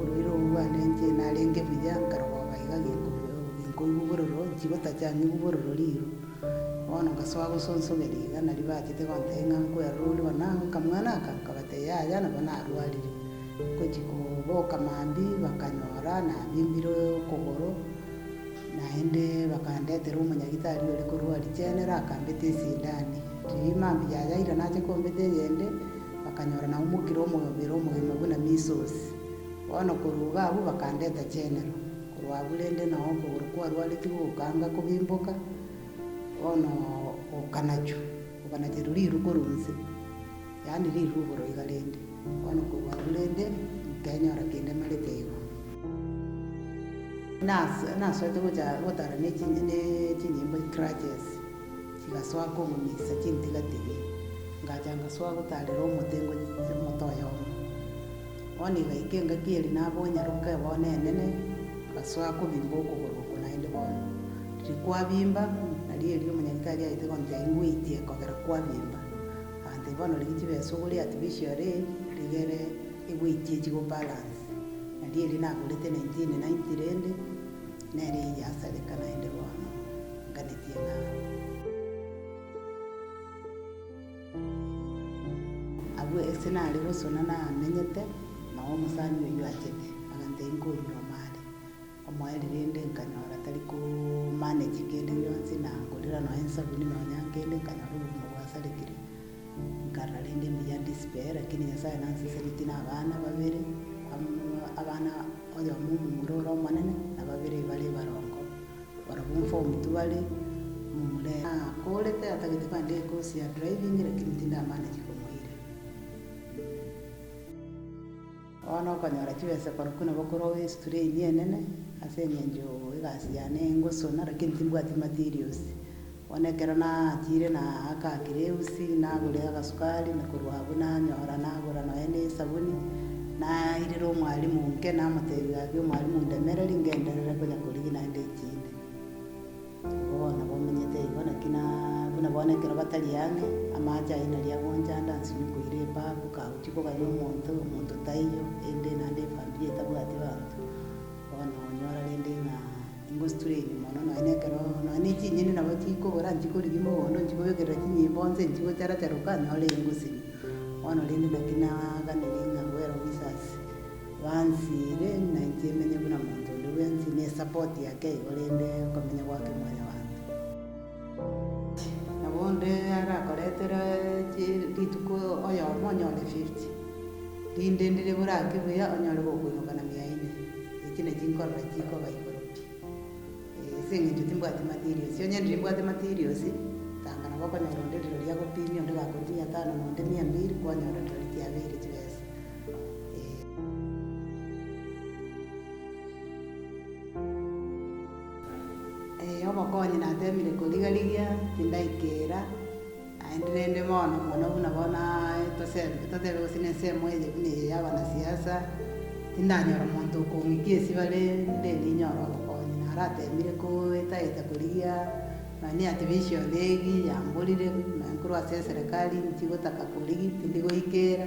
Oroiro obo bwanenche narenge buya, nkarogoba iga ginkoigwa bororo, nchigotacha ng'igwe bororo riiro. Bono ngasoa gosonsoberia iga nario bachete gontebia ng'a nkwerora oria one ago, akamwana aka? Nkabatebia yaya nabo narwarire. Ngochi koboka mambia bakanyora nabimbire okogoro, naende bakandetera omonyagitari ore korwa Arichenera akambeta esindani. Riria mambia yayaira nache kombeta eyende. bakanyora naumokire omobere omogima buna Measles. Bono korwa iga abwo bakandeta chenero korwa abwo rende nao okogoro kwarwaretigwe gokanga kobimboka, bono gokanachwa, gokanacherwa riru korwa inse, yaani riru igoro iga rende, bono korwa abwo rende nkenyora kindemarete igo. Nase nasoete gocha gotara ne chinyimbo, crutches. Ngasoa kong'unyisa chintigatigi, ngacha ngasoa gotaarera omotengo emote oyomo. Bono igaika engaki eri nabonyaroke bono enene, ngasoa kobimba okogoro oko naende bono. Riria kwabimba, nari erio omonyaritari aete gontebia ingweitia ekogera kwabimba. Agantebia bono rigia chibeesa ogore artificial rigere egweitie chigo balance. Nari erio nagorete 1990 rende. Nere iga asareka naende bono, nganetie nawe. Agwo ase nare gosona namenyete, nao omosani oyio achete, agantebia inkoria omare omoeri rende nkanyora tari ko manage kende gionsi, na ngorera nonya ensabuni nonya nkende, nkanyora obogima bwasarekire. Nkara rende mbuya ndisibe, lakini Nyasae nanseseretie na abana babere, abana oyomo omomura ore omonene, na babere bare barongo, barabwo mfo omotu bare omomura ere. Akoorete atagete kande ecourse ya driving, lakini tindamanya chikomoira. Bono okonyora chibesa korokwo nabo korwa wi strain enene ase engencho egasi yane engosona lakini timbwati materials bono ekero natiire na aka kireusi nagure agasukari na korwa abwo nanyora nagura nonya ne esabuni nairera omwalimu inke namotebia gaki omwalimu ndemereri ngenderere konya korigia naende chinde. Nigo bono bomenyete igo, naki na buna bono ekero batari ang'e, amaache ayio naria agonchanda nse ime koira ebafu, kagochia kogaya omonto, omonto taiyo, erinde naende efamiri etabwati abanto. Bono onyora rende ng'a ingostrain mono nonye nekero nonye ne chinyeni nabo chikobora nchikorigi mogondo nchikobekerera chinyimbo nse nchigocharachara okanyora engosibia. Bono rende naki naaganire ng'a goera omoisasi. Bansiire, na inche emenye buna monto onde bwensi, ne support yake igo rende okomenya gwake mwanyabanto. Nabo onde arakoretera chi rituko oyomo onyore fifty, rinde ndire bore ake buya onyore gokoimoka na mia ine, echi ne chinkorora chikoba igoro pi. Ase engencho timbwati materials, onye ndirimbwate materials, tanga nabo okonyora onde riro riagopimia, onde gakorire mia tano na onde mia mbiri, kwanyora riro ritiabeire chibesa. Ee, obokonyi natemire koriga rigia, tindaikera. Naende rende bono, mono buna bono aa, tosembe, totebe gose nensemo eye buna eye y'abanasiasa, Tindanyora omonto okong'ikia ase bare, nde ninyore obokonyi, na arateemire koetaeta korigia, nonya niatebe esiondo egi, yamborire, nonya korwa ase eserekari, nchigotaka korigia, tindi goikeera.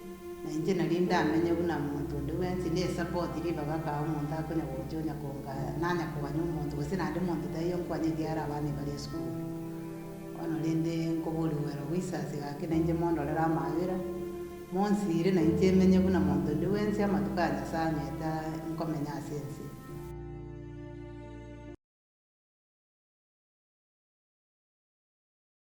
Na inche nari ndamenye buna monto onde bwensi, nesapoti ribaga kaa omonto akonya gocha onya kongaya, nanya koganya omonto, gose naende monto taiyo nkwanya ekiagera abana ebari esukuru. Bono rende nkoboria ogwera goisasi gake na inche mondorere amabera, monsiire na inche menye buna monto onde bwensi amatuko aya Nyasae ang'ete nkomenya ase ense.